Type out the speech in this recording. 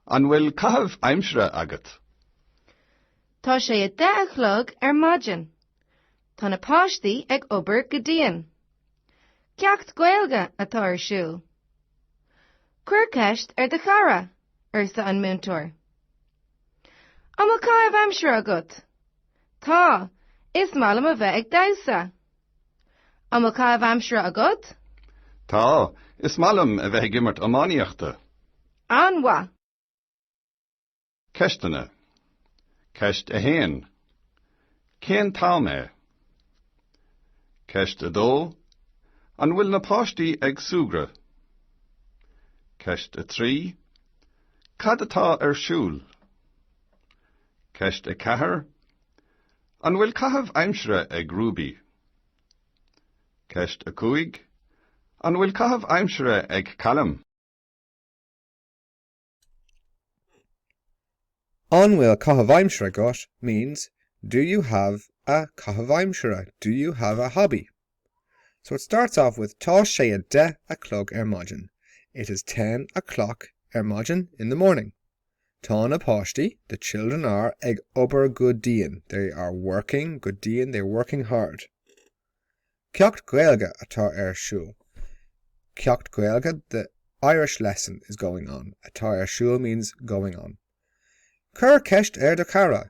An bhfuil caitheamh aimsire agat? Tá sé a deich a chlog ar maidin. Tá na páistí ag obair go dian. Ceacht Gaeilge atá ar siúl. Cuir ceist ar do chara, arsa an múinteoir. An bhfuil caitheamh aimsire agat? Tá. Is maith liom a bheith ag damhsa. An bhfuil caitheamh aimsire agat? Tá. Is maith liom a bheith ag imirt iománaíochta. An-mhaith. Ceisteanna. Ceist 1. Cén t-am é? Ceist 2. An bhfuil na páistí ag súgradh? Ceist 3. Cad atá ar siúl? Ceist 4. An bhfuil caitheamh aimsire ag Ruby? Ceist 5. An bhfuil caitheamh aimsire ag Callum? An bhfuil caitheamh aimsire agat means Do you have a caitheamh aimsire? Do you have a hobby? So it starts off with Tá sé a deich a chlog ar maidin, It is ten o'clock ar maidin, in the morning. Tá na páistí, the children are, ag obair go dian, they are working go dian, they are working hard. Ceacht Gaeilge atá ar siúl. Ceacht Gaeilge, the Irish lesson is going on. Atá ar siúl means going on. Cuir ceist ar do chara.